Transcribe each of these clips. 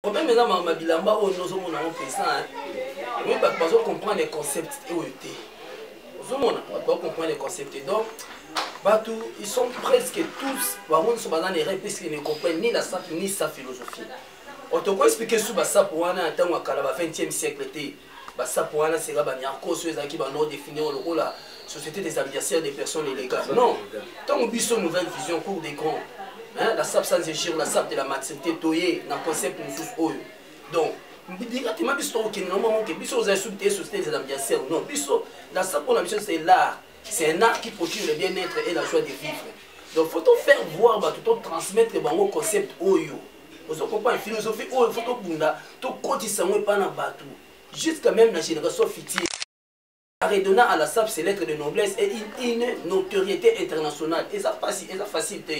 problème eza mama bilamba oyo nde ozomona yango mpenza oyebi bato bazo comprendre concept oyo te ozomona bato bazo comprendre concept te donc bato ils sont presque tous bango nyonso baza na erreur puisque ne comprennent ni la sape ni sa philosophie otokoexplike su basape wana ya ntango ya kala ba 20e siècle te basapo wana seka baniarcos oyo ezalaki banord définir lokola société des ambiacières des personnes illégales non ntango biso nouvelle vision cour des grands la sap sans égir la sap de la maturité toye na concept mosusu oyo donc directement biso tokokende na moko ke biso ozali soki te société des ambiacières non biso la sap mpona biso c'est l'art c'est un art qui procure le bien-être et la joie de vivre donc faut tofaire voir bato totransmettre bango concept oyo ozo comprendre philosophie oyo il faut tobunda tokotisa yango epai na bato jusqu'à même la génération future redonnant à la SAP ses lettres de noblesse et une, une notoriété internationale eza facile eza facile te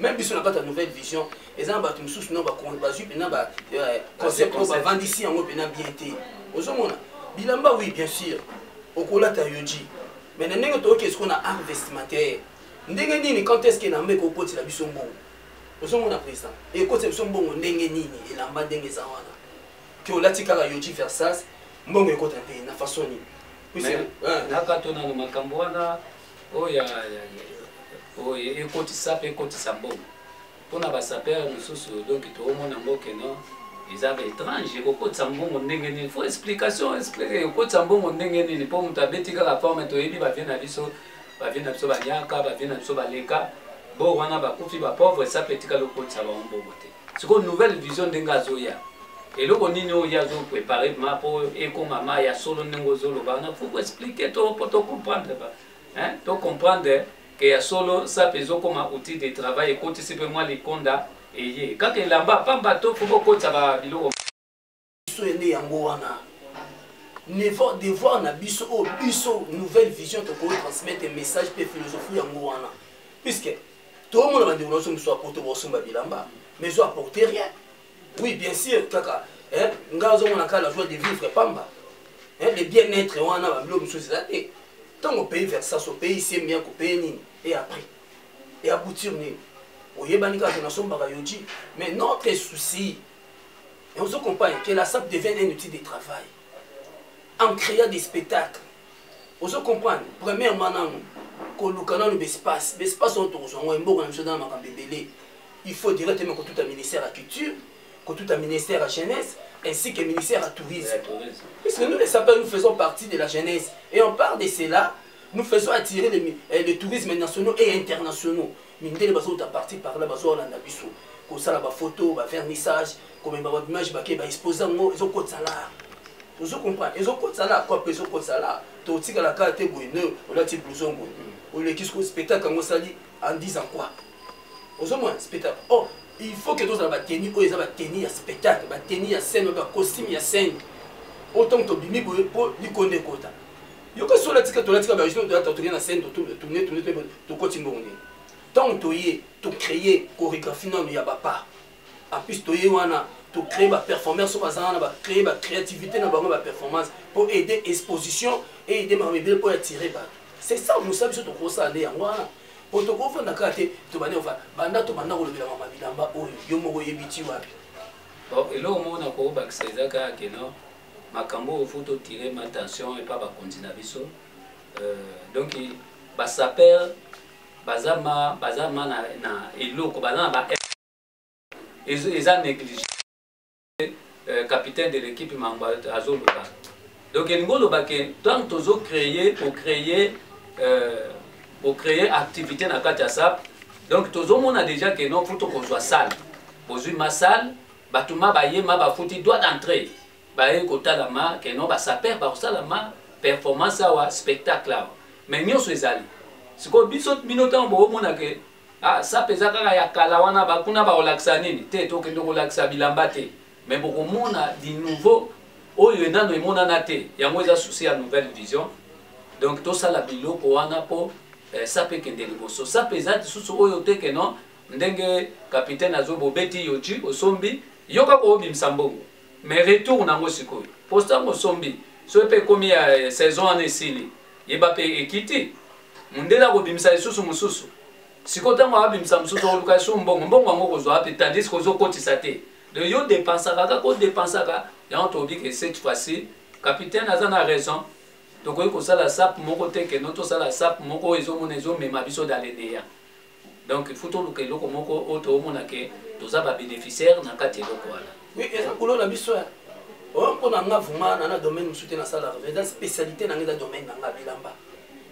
même biso na kati ya nouvelle vision eza na bato mosusu no bazwi mpena baconcept oyo bavandisi yango mpena bien te ozomona bilamba oui bien sûr okolata yoji mais na ndenge toyoki esiko na art vestimentaire ndenge nini quand est ce que na mbe kokotila biso mbongo ozomona président ekotisa biso mbongo ndenge nini elamba ndenge eza wana ke olati kaka yoji versas mbongo ekota te na façon nini nakato nano makambo wana oyo oyo ekotisa mpe ekotisa mbongo mpona basapere mosusu donc toomona ngo keno eza ba étrange ekokotisa mbongo ndenge nini fo explication ekokotisa mbongo ndenge nini mpo moto abeti kaka forme toyebi bavie na biso ba vieux na biso banyaka ba vieux na biso baleka bo wana bakufi ba pauvre esape etikali okotisa bango mbongo te sikoyo nouvelle vision ndenge azoya eloko nini oyo ye azoprepare ma mpo ekoma ma ya solo ndenge ozoloba wana faut koexplike to mpo tocomprendre tocomprendre ke ya solo sape ezokoma outil de travail ekotisi mpe mwa likonda eye kaka elamba pamba to fo bokotisa babiloko biso ye nde yango wana niveau devoir na biso oyo oh, biso nouvelle vision tokoki transmettre message mpe philosophie yango wana puisque tomona bandeko na biso mosusu apoto bosomba bilamba mais ezo apporte rien oui bien sûr kaka ngai azomona kaka la joie de vivre pamba le bien être wana babilo mosusu eza te ntango opeye versas opeye semia kopeye nini e après e aboutir nini oyebani kaka te nasombaka yoji mais notre souci Et vous comprenez que la SAP devient un outil de travail en créant des spectacles. Vous comprenez Premièrement, koluka nanu bespace bespace oyo tokozwa yango emboka na biso eza na makambo ebele il faut directement kotuta ministère ya culture kotuta ministère ya jeunesse ainsi que ministère à tourisme. Puisque nous, les sapeurs, nous faisons partie de la jeunesse. Et on part de cela, nous faisons attirer les, eh, les tourismes nationaux et internationaux. Mindele bazo uta parti par là bazo landa biso kosala ba photo ba vernissage komema ba image bake ba exposer ngo ezo kotsa la ozo comprendre ezo kotsa la quoi ezo kotsa la to tika la carte boy ne olati blouson boy oleki ce spectacle ngo sali en disant quoi ozo moi spectacle oh il faut que tozala bateni oyo eza bateni ya spectacle bateni ya scène oyo bacostume ya scène oyo ntango tobimi boye mpo likonde ekota yoka sola tika tolatika bajour tolata toke na scène totourne tourne tokoti mbongo nini ntango toye tocreye chorégraphie nano ya bapa en plus toye wana tocreye baperformance so baza wana bacreye bacréativité na bango baperformance mpo aide exposition eide makambo ebele mpo ya tire bato c'est ça mosala biso tokosala nde yango wana mpo tokofanda kaka te tobandi kofanda banda tobanda kolobela mama bilamba oyo yo moko oyebi ti wapi eloko moko nakobakisa eza kaka keno makambo oyo faut totire ma tension epa bakonzi na biso euh, donc basaper baza ma baza ma na, na eloko baza na ba eza néglige euh, capitaine de l'équipe mango azoloba donc elingi oloba ke ntango tozo créer ocréer euh, ocréer activité na kati ya sap donc tozomona déjà ke no faut tokozwa sale bozwi ma sale Batu ma baye ma bafuti droit d'entree baye kotala ma que non ba sapeurs bakosala ma performance awa spectacle awa mais nyonso ezali sikoyo biso bino ntango bokomona ke ah, sape eza kaka ya kala wana bakuna bakolakisa nini te tokende kolakisa bilamba te mais bokomona du nouveau oyo enano emonana te yango eza souci ya nouvelle vision donc tosala biloko wana mpo eh, sape ekende liboso sape eza lisusu oyo te ke non Ndenge capitaine azo bobeti yoji osombi yo kaka obimisa mbongo mais retour nango sikoyo posta ngo osombi soki pe ekomi ya eh, saison wana esili yeba pe ekiti mundele akobimisa lisusu mosusu sikoyo ntango abimisa mosusu oluka esu mbongo mbongo yango kozwa wapi tandis ke ozokotisa te donc yo depensaka kaka odepensaka yango toyebi ke cette fois-ci capitaine aza na raison tokoki kosala sap moko te keno tosala sap moko ezomona ezomema biso dans le néant donc il faut toluka eloko moko oyo toomona ke toza babénéficiaire na kati eloko wana oui eza boulot na biso ya oyo mpo na nga vraimen na na domaine mosusu te nasala eza spécialité na nga eza domaine na nga bilamba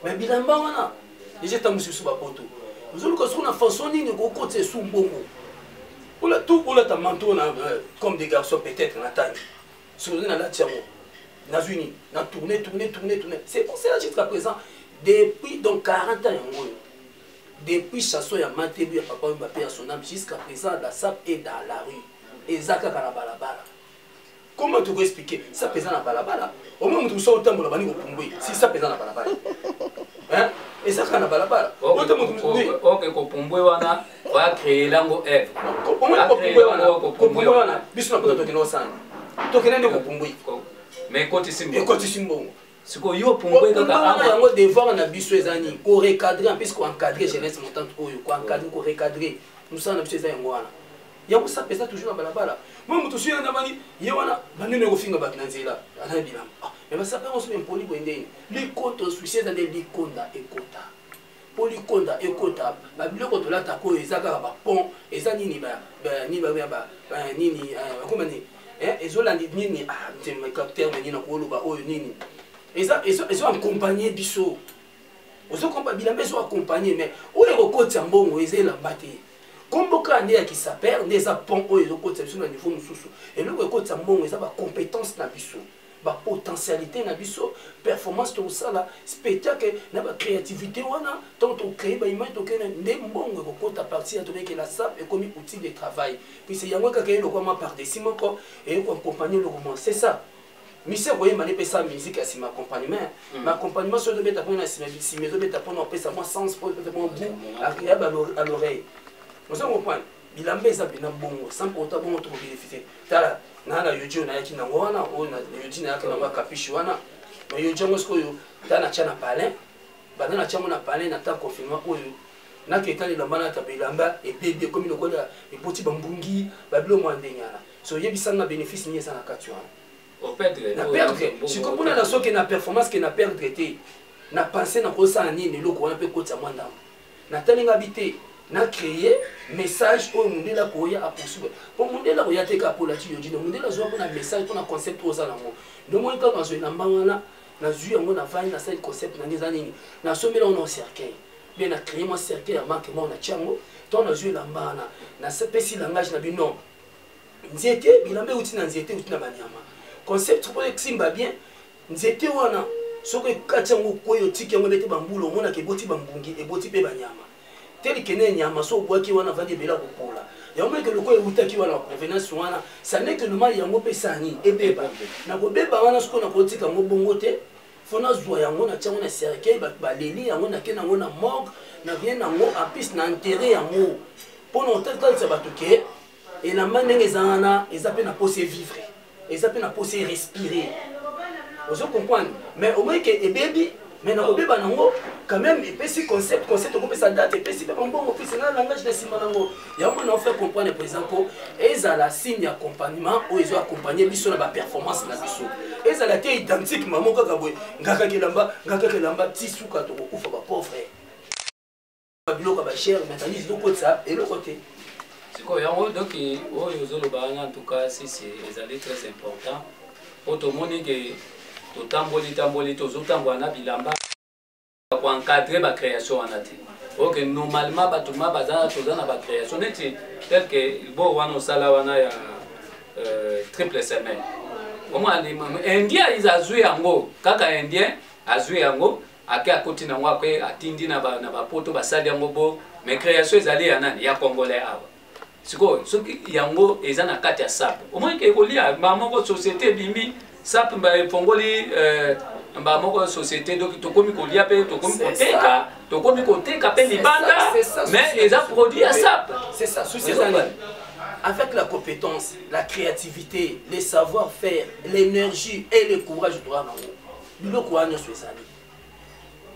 mais bilamba wana deja ntango mosusu biso bapoto ozoluka soki na façon nini okokotisa esu mbongo ola tout olata manto na euh, comme des garçons peut-être na tangi soki ozi nalati yango nazwi nini na tourne tourne tourne tourne c'est pour cela jusqu'à présent depuis donc 40 ans yango oyo depuis chanson ya matelu ya papa wemba pe ya sonam jusqu'à présent la sap est dans la rue eza kaka na balabala comment toko expliquer sap eza na balabala omoi moto mosusu otambola bani kopumbwe si sap eza na balabala eza kaka na balabala oke kopumbwe wana bacree lango eve kopumbwe wana biso na poto tokende osanga tokende nde kopumbwe ekotisi mbongo sikoyo yo opumbwe kaka wana yango devoir na biso eza nini korecadre en plus koencadre jeunesse montante oyo koencadre korecadre mosala na biso eza yango wana yango sape eza toujours na balabala mwa moto soki andamani ye wana bandini ekofinga bato na nzela aza na bilamba ah, me basape yango soki empoli boye ndeni likoto susi eza nde likonda ekota mpo likonda ekota babiloko tolataka oyo eza kaka bapont eza nini nini akoma nini ezolandi nini terme nini nakoloba oyo nini ezo accompagne biso ozokompa bilamba ezo accompagne mais oyo ekokotisa mbongo eza elamba te nkombo kaka nde ya kisaper nde eza pont oyo ezokotisa biso na niveau mosusu eloko ekotisa mbongo eza bacompétence na biso ba potentialité na biso performance tokosala spectacle na ba créativité wana ntango tokocree ba image tokende nde mbongo ekokota parti ya tobeke la sap ekomi outil de travail puise yango ekaka elokwama par desi moko eyokoaccompagne lokoma c'est ça misi akoyemba nde epesa musike ya nsima accompagnement hmm. ma accompagnement soki ezobeta mpona nsima nsima ezobeta mpona opesa mwa sens mpo mwa gout ya baloreille ozo comprendre bilamba eza mpena bongo sans kota bongo tokobenefite tala naa na yodi oyo nayaki nango wana oyo na yodi nayaki nango ya kapishi wana ma yodi yango sikoyo ta natya na palin banda natya yango na palin na ta confinement oyo nake etali elamba nata bilamba ebebi ekomi lokola eboti bambungi babilo mwa ndenge wana so oyebisanga bénéfice nini eza na kati wana na perdre sikoyo mpona na soki na performance ke na perdre te na pense nakosala nini eloko wana mpe kotisa mwa ndambo natali nga bi te na créer message oyo mundele akoya aposuba mpo mundele akoya te kaka polati yo dino mundele azwa mpona message mpona concept oyo oza nango ndomoi kaka nazwa elamba wana nazwi yango na vani nasali concept nange eza nini nasombela yango na cercueil mpe na créer mwa cercueil ya manque moko natya yango ntango nazwi elamba wana napesi langage na bino nzete bilamba euti na nzete euti na banyama concept mpo esimba bien nzete wana soki ekati yango okwei otiki yango ebete bambula omonaka eboti bambungi eboti mpe banyama telikene nyama so obwaki wana avandi ebele akopola yango meke lokola ewutaki wana provenance wana saneke nomali yango mpe sani ebeba nakobeba wana sikoyo nakotika yango bongo te fo nazwa yango na tiango na cercueil bato baleli yango nake nango na morgue na rien nango apis na enterre yango mpo na otatalisa bato ke elamba ndenge eza wana eza mpe na posa evivre eza mpe na posa erespire ozo comprendre mais omoi ke ebebi mais nakobeba nango quand même epesi concept concept okopesa date epesi mpe bambongo mpesi na langage na nsima nango yango na ofaire comprendre président mpo ezala signe ya accompagnement oyo ezo accompagne biso na baperformance na biso ezala te identique mamo kaka boye ngakaka elamba ngakaka elamba ti suka tokokufa bapauvre biloko ba cher matandise tokotisa eloko te sikoyo yango donc oyo ozoloba wana en tout cas sisi ezali très important mpo tomoni ke totamboli tamboli tozotambola na bilamba koencadre bacréation wana te ok normalement bato ma baza toza na bacréation neti tel ke bo wana osala wana ya euh, triple semaine omwana indien azwi yango kaka indien azwi yango ake akoti na yango ake atindi na bapoto basali yango bo mais création ezali ya nani ya congolais awa sikoyo soki yango eza na kati ya sape omonike ekolia mbaa moko société ebimi sape mba efongoli euh, mbaa moko société donc tokomi kolia mpe tokomi koteka tokomi koteka mpe libanda mais eza produit ya sape avec la compétence, la créativité, les savoir-faire, l'énergie et le courage, droit en haut. biloko wana nyonso ezali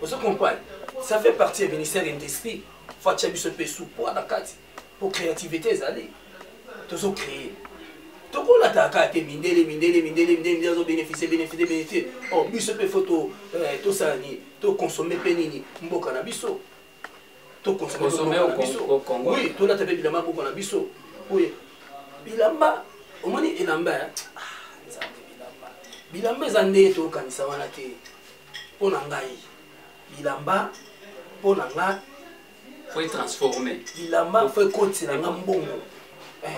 ozo comprendre ça fait partie ya ministère ya industrie fo atya biso mpe supoi na kati mpo créativité ezali tozo créer tokolataka kaka te mindele mindele mindele mindele mindele azo bénéficie bénéficie bénéficie o oh, biso mpe fo tosala nini toconsomme mpe nini mboka na biso to consommer to consommer au biso au Congo oui to lata pe bilamba boko na biso oui bilamba omoni elamba ya ah, bilamba eza nde tokanisa wana te mpo na ngai bilamba mpo na nga faut transformer bilamba faut ekotisa na nga mbongo eh.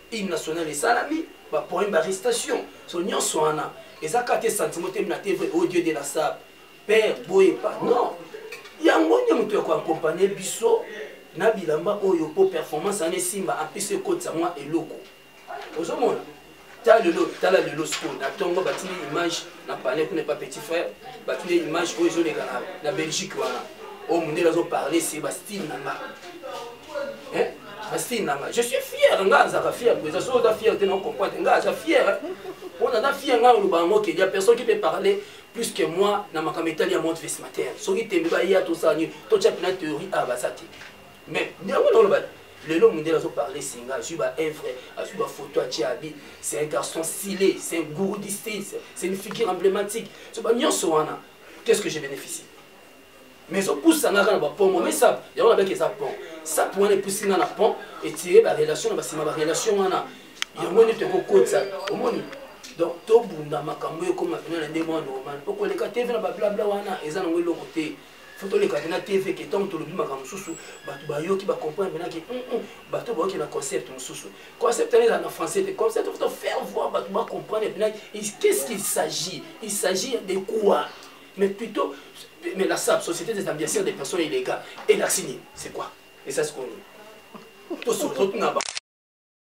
Hymne national esalami, ba poème ba restation, so nyonso wana eza kaka te sentiment te na te vrai au oh Dieu de la sable. Père boye pas non. Yango nde moto ya ko accompagner biso na bilamba oyo mpo performance wana esimba apesi ekotisa mwa eloko ozomona ta lelo tala lelo sikoyo na ntongo batindi image na palais kuna epa petit frère batu nde image oyo ezoleka na belgique wana oyo mondele azoparle se bastile na nga bastile na nga je suis fier nga azaka fier mpenza soki oza fier te na ocomprendre nga aza fier mpo naza fier nga oloba yango ke ya personne qui peut parler plus que moi na makambo etali ya monde vesmater soki tembe baya tosala nini totya mpena théorie awa baza te mais yango naoloba lelo mondele azo parle singa azwi ba evre azwi bafoto atie abi c'est un garçon stylé c'est un gourou du style c'est une figure emblématique so ba nyonso wana qu'est ce que je bénéficie mais ezopusa nga kaka na bapont moi mesa yango nabaki eza pont sape wana epusi nga na pont etire barelation na basima barelation wana yango nde tokokotisa omoni donc tobunda makambo oyo ekoma mpena na ndenge wana normal mpo koleka te mpe na bablabla wana eza nango eloko te fo toleka te na tv ke ntango tolobi makambo mosusu bato bayoki bacomprendre mpenaki mm, mm, bato bayoki na concept mosusu concept wana ezala na français te concept faut faire voir bato bacomprendre mpenaki qu'est-ce qu'il s'agit il s'agit de quoi mais plutôt mais la sab société des ambiancières des personnes illégales elakisi nini c'est quoi esasi koni tosotuna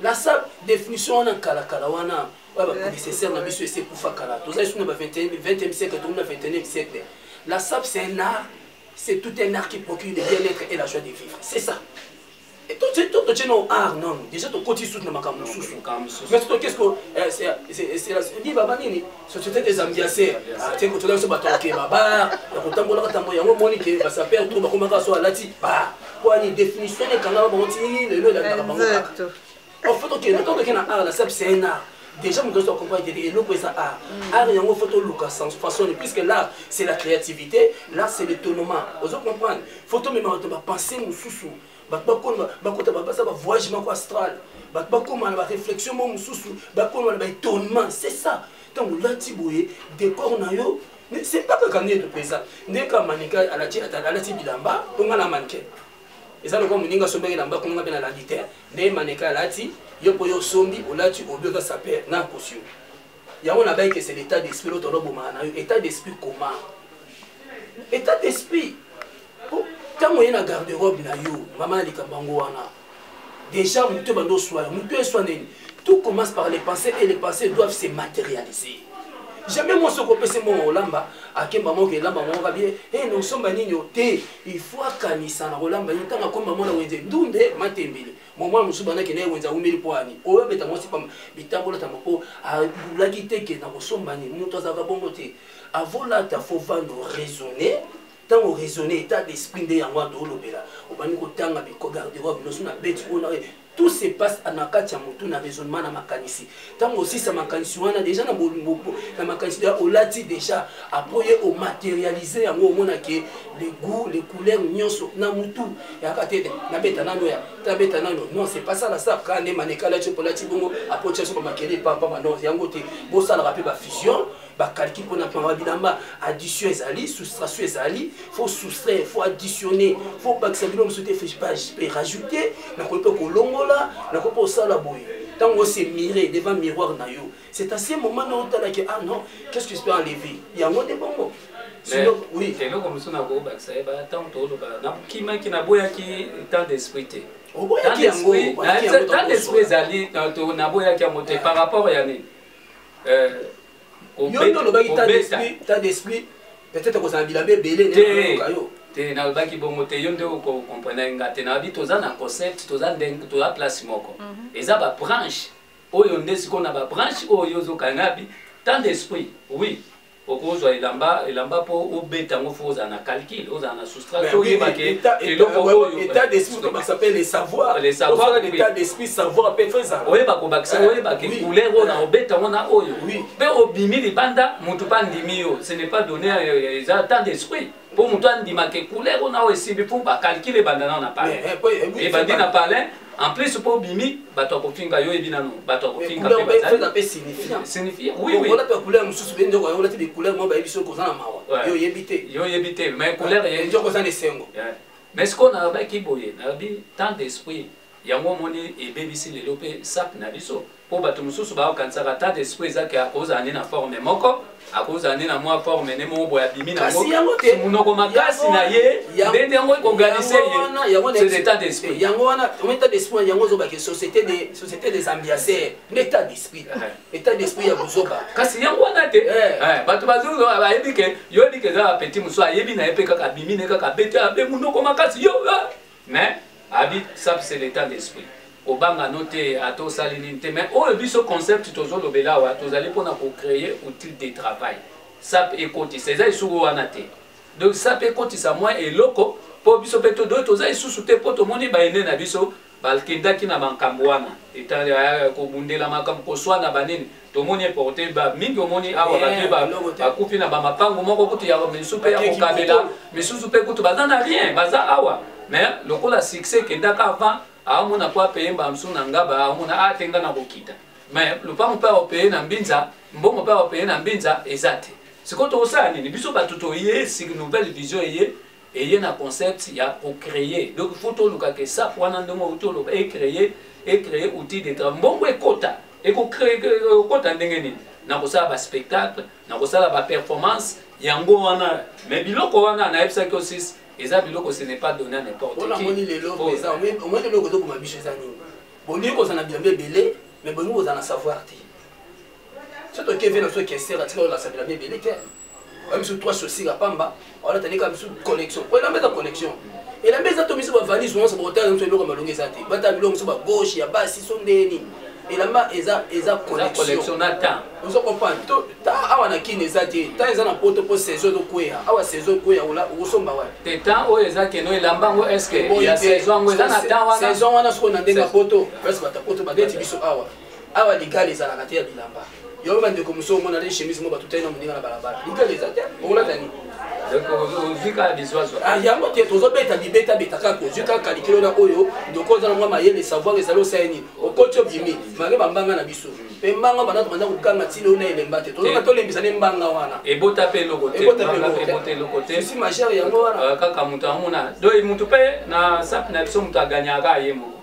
nasa definition wana kalakala wana oyo baprocesseur na biso esi ekufa kala toza lisusu na ba 20e siècle tokomi na 21e siècle la sap c'est un art c'est tout un art qui procure le bien-être et la joie de vivre c'est ça totie na art non déjà tokoti susu na makambo mosusu mais soki eske liba banini société des ambianceurs te kotola biso bato yake babar ya kotambolaka ntango yango omoni ke basapere to bakomaka so alati ba kwani définition ekangaka bango ti lelo elandaka bango kaka en fait okende to okende na art la sep c'est un art déjà moto ozo comprendre te eloko eza art art yango faut toluka sens façon puisque l'art c'est la créativité l'art c'est l'étonnement ozo comprendre faut tomema bato bapense mosusu bato bakoma bakota bapasa ba voyage moko astral bato bakoma na ba réflexion moko mosusu bakoma na ba étonnement c'est ça ntango olati boye décor na yo c'est pas kaka ndeto mpenza nde kaka manika alati alati bilamba mpo nga na manike eza lokola moninga asombaki elamba kuna nga mpe nalandi te nde manika alati yo mpo yo osombi olati obi oza saper na kosi yo yango na baike c'est l'état d'esprit l'autre olobomaka na yo état d'esprit comment état d'esprit ntango oye na garde robe na yo mama ya likambo yango wana déjà moto ebanda oswa yo moto eswa nini tout commence par les pensées et les pensées doivent se matérialiser jamais moi soko opesi mbongo kolamba akemba moko elamba moko kabie e nosomba nini o te il faut akanisa na kolamba ye ntango akomba mwana wenze ndunde matembele mama mosusu bandaki naye wenze awumeli mpo ani oyo abeta mwasi pamba bitambolatamba mpo alulaki te ke nakosomba nini moto azalaka bongo te avolata fo vano raisonne ntango raisonne état d'esprit nde yango ando olobela obandi kotanga garderobe noso na beti oyo tout se passe na kati ya motu na raisonnement na makanisi ntango osisa makanisi wana deja na bolumbu na makanisi ya olati deja apres ye omaterialize yango omona ke le goût le couleur nyonso na mutu yaka te nabeta nano ya tabeta nano non c'est pas ça la star kaka nde maneka alati mpo olati bongo apres otya so bamakele epampama non yango te bosalaka mpe bafusion bakalki mpona mpamba bilamba addition ezali soustration ezali faut soustraire faut additionner faut bakisa bino mosusu te fespage mpe rajouter nakoki mpe kolongola nakoki mpe kosala boye ntango ose mire devant miroir na yo c'est à ce moment na otalaki ah non qu'est ce que je peux enlever yango nde bongo eloko mosusu nakobakisa ye ntango toloba nakimaki naboyaki temps d'esprit te oboyaki yango temps d'esprit ezali naboyaki yango te par rapport ya nini eh, yo nde olobaki ta d'esprit peut-être kozala bilamba ebele neyoka yo te nalobaki bongo te yo nde okokomprene nga te nabi toza na concept toza ndenge toza place moko mhm. eza babranche oyo nde sikoyo na babranche oyo ozokanabi tant d'esprit oui okozwa elamba elamba mpo obeta yango fo ozala na calcul ozala na soustraction oyeba ke eloko oyo état d'esprit to bakisa mpe le savoir le savoir l'état d'esprit savoir mpe fo ezala oyeba kobakisa eh, oyeba ke couleur oyo na obeta yango na oyo mpe obimi libanda moto mpe andimi yo ce n'est pas donné eza temps d'esprit mpo moto andima ke couleur oyo nao esimbi mpo bacalcule ebanda nao na palin eh, eh, eh, ebandi na palin en plus mpo obimi bato ya kofinga yo oyebi nano bato ya kofinga mpe signifie oiolata couleur mosusu be ndeko olati becouleur moko bayebi soki oza na mawa yo oyebi te yo oyebi te mais couleur ndeko oza na esengo mais sikoyo nalobaki boye nalobi tant d'esprit yango omoni ebebisi lelo mpe sape na biso mpo bato mosusu bakokanisaka ata esprit eza ke akozala nde na forme moko akozala nde na mwa forme nde moko boye abimi nangomonoko makasi na ye nde nde yango ekoganise ye etat d'esprit yango wana etat d'esprit yango ozobake société des ambianceurs nde etat d'esprit eh. etat d'esprit ya kozoba kasi yango wana te eh. Eh, bato bayebi ke yo yebi ke eza bapetit mosusu ayebi na ye mpe kaka abimi ne kaka abeti abe monoko makasi yo mais abi sap c'est l'état d'esprit obanga no te ata osali nini te mais oyo biso concept tozolobela awa tozali mpona kocreye outil de travail sap ekotisa eza lisuku wana te donc sap ekotisa mwa eloko mpo biso mpe todoki toza lisusu te mpo tomoni baene na biso bakendaki na bankambo wana eh, kobundela makambo koswana banini tomoni eporte ba mingi omoni awa eh, bato bakufi na bamapango moko kutu ya misusu mpe ya kokabela misusu mpe kutu baza na rien baza awa mais lokola succès ekendaka avant aomona mpo apeye mbala mosusu na ngaba aomona ate ah, nga na kokita mais lopango mpe aopeye na mbinza mbongo mpe aopeye na mbinza eza te sikoyo tokosala nini biso bato toye nouvelle vision eye eye na concept ya kocreye donc fo toluka ke sap wana ndenge outi oloba ecreye ecreye outil de travail mbongo ekota ekokota ndenge nini na kosala baspectacle na kosala baperformance yango wana me biloko wana nayebisaki osis eza biloko ce n'est pas donné à n'importe qui lelo eza omoni lelo kozokoma biso eza nini bolingi kozala na bilamba ebele me bolingi kozala na savoir te so tokevena so kesera tika olakisa bilamba ebele te oyo biso trois chaussures ya pamba olata ndeka biso connexion oyo elamba eza connexion elamba eza to biso bavalise nyonso botala nyonso eloko malongi eza te batala biloko mosusu bagauche ya basi so ndenge nini elamba eza eza connexion na temps ozo comprendre to temps awa na kin eza te temps eza na poto po saison ezo kweya awa saison ekweya ola okosomba wa te temps oyo eza keno elamba yango est ce que ya saison yango eza na temps wana saison wana soko na ndenge ya poto presque bata poto babeti biso awa awa ligala ezalaka te ya bilamba yo bandeko mosusu omona nde chemise mo batutani na moninga na balabala ligala eza te okolata nini ah, yango te tozobeta bibetabeta kaka ozwi kaka likelo na oyo ndoko oza na mwa mayele savoir ezali osala nini okoti obimi mare bambanga na biso mpe mbanga wana tobanda kokanga ntina oyo na elemba te tozonga tolembisa nde mbanga wana ebota mpe eloko teebotapelokotesi majere yango wana ah, kaka moto amona doi moto mpe na sape na biso moto aganyaka ye moko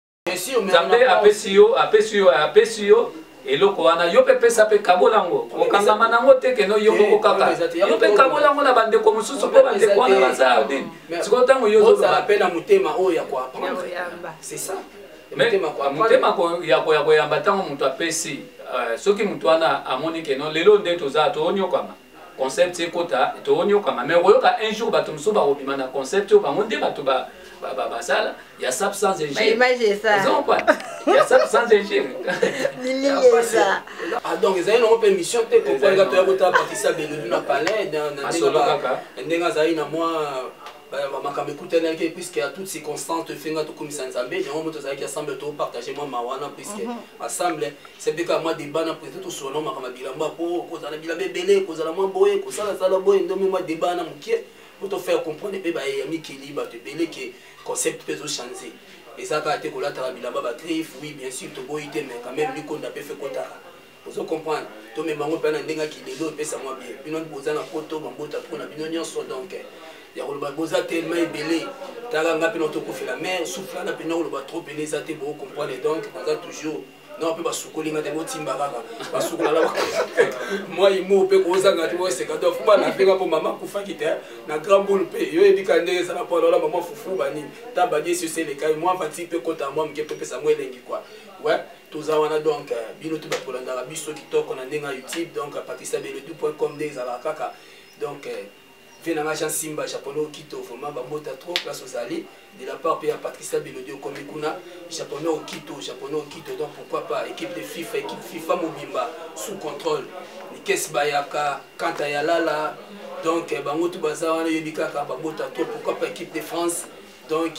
nzambe apesi yo apesi yo apesi yo eloko wana yo mpe pesa mpe kabola yango okangama na yango te keno yo moko kaka yo mpe kabola yango na bandeko mosusu mpo bandeko wana baza nini sikoyo ntango yo ozoloba mpe na motema oyo ya koapprendre c'est ça motema ya koyamba ntango moto apesi soki moto wana amoni keno lelo nde toza toonyokwama concept ekota toonyokama mais okoyoka un jour bato mosusu bakobima na concept oyo bango nde bato basala ya sap sans ingirezompa ya sap sans ingire ah, donc ezali nango mpe émission te kokoleka toya kotala bakisa belelu na palais ndenge azali na mwa makambo ekutanaki puiske ya toute circonstance tofinga tokumisa nzambe yango moto azalaki assemble topartage mwa mawa na puiske assemble mhm. se mpe kaka mwa deba na président tosolana makambo ya bilamba mpo kozala bilamba ebele kozala mwa boye kosalasala boye ndomi mwa deba na moke mpo tofaire comprendre mpe baye ya mikili bato ebele ke concept mpe ezochange eza kaka te kolataka bilamba bagriffe oui bien sûr toboyi te mais quand même likonda mpe fe kotaka ozo comprendre tomema yango mpe na ndenge ya kilelo epesa mwa bie bino boza na poto bambota mpo na bino nyonso donc ya koloba boza telema ebele tala nga mpe na tokufela mare suflana mpe na koloba trop pene eza te boko comprendre donc naza toujours na mpe basukoli nga te botimba kaka basukolala mwai mo mpe kozanga te boseka to fuba na mpenga mpo mama akufaki te na grand boule mpe yo yebika ndenge ezala mpo alola mama fufu banini ta badiesi osi elekai mwa fati mpe kota mwa moke mpe pesa yango elengi kua toza wana donc euh, bino tout bato bolandaka biso kitoko na ndenge ya youtube donc euh, patrisabelodu point com nde ezalaka kaka donc euh, vie nanga jean simba japonais okito vraiment bambota trop place ozali de la part mpe ya patricia belodi okomi kuna japonais okito japonais okito donc pourquoi pas équipe de fifa équipe fifa mobimba sous contrôle nikes bayaka kanta ya lala donc bango tu baza wana oyebi kaka babota trop pourquoi pas équipe de france donc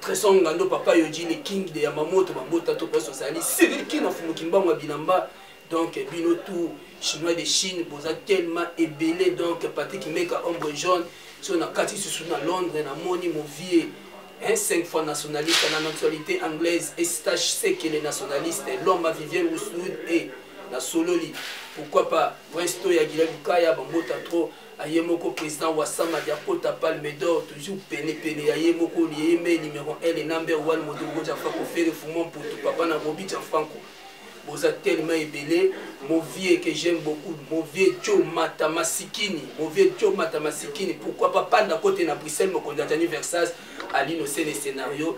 tresor ngando papa yoji le king de yamamoto babota to place ozali siliki na fumuki mbango ya bilamba donc bino tout chinois de chine boza tellement ebele donc patrik meka ombre jaune so na kati susu na londres namoni movie hein, cinq fois nationaliste na nationalité anglaise estache sekele nationaliste lomba vivienne rouswood e na sololi pourquoi pas vrai sto ya gila lukaya bambota trop aye moko président wasamadi akota palme d'or toujours pene pene ya ye moko lieye mai numéro 1 le number 1 moto okoja franco fere fumon putu papa na bobi ja franco boza tellement ebele mon vieux que j'aime beaucoup mon vieux jo mata masikini mon vieux jo mata masikini pourquoi pas panda kote na bruxelles mokonzi ya jani versage alino se le scénario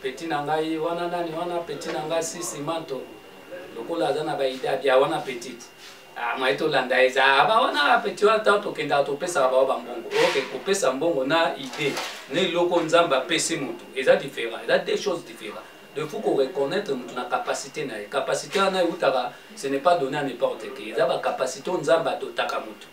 Petit na ngai wana nani wana petit na ngai sisi manto lokola aza na baida bia wana petit ah, maye tolanda eza ah, ba wana petit wana ntango tokendaka topesaka bao bambongo oke kopesa mbongo na ide na eloko nzambe apesi motu eza différent eza deux choses différent de faut koreconnaitre motu na capacité na ye capacité wana eutaka ce n'est pas donné à n'importe qui eza bacapacité oyo nzambe adotaka motu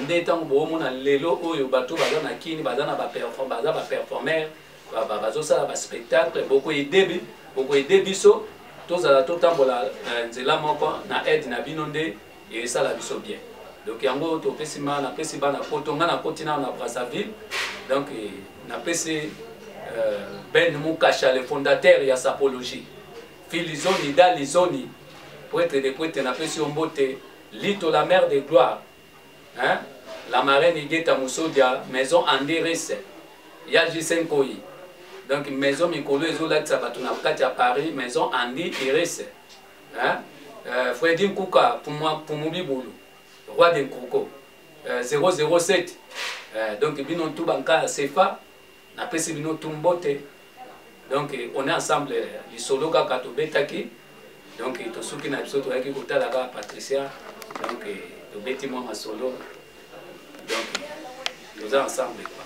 nde ntango boomona lelo oyo bato baza na kini baza na baza baperformer bazosala baspectacle bokoedebe bokoede biso tozala totambola eh, nzela moko na aide na bino nde esala biso bien donc yango topesi ma napesi bana poto ngai nakoti nao na brazzaville donc eh, napesi eh, ben mukasha le fondateur ya sapologie filizoni dalizoni poetre de poetre napesi yo mbote Lito la mère de gloire hein? la marraine Igeta Musodia maison Andiris ya JC Nkoyi donc maison mikolo ezolakisa bato na kati ya Paris maison Andi Iris hein? euh, Freddy Nkuka Pumubi Bulu roi de Nkuko euh, 007 euh, donc bino tout banka ya CFA Na pesi bino tout mbote. Donc on est ensemble lisolo kaka tobetaki. Donc tosuki na biso toyaki kotala kaka Patricia. Donc tobeti mwa masolo. Donc toza ensemble quoi.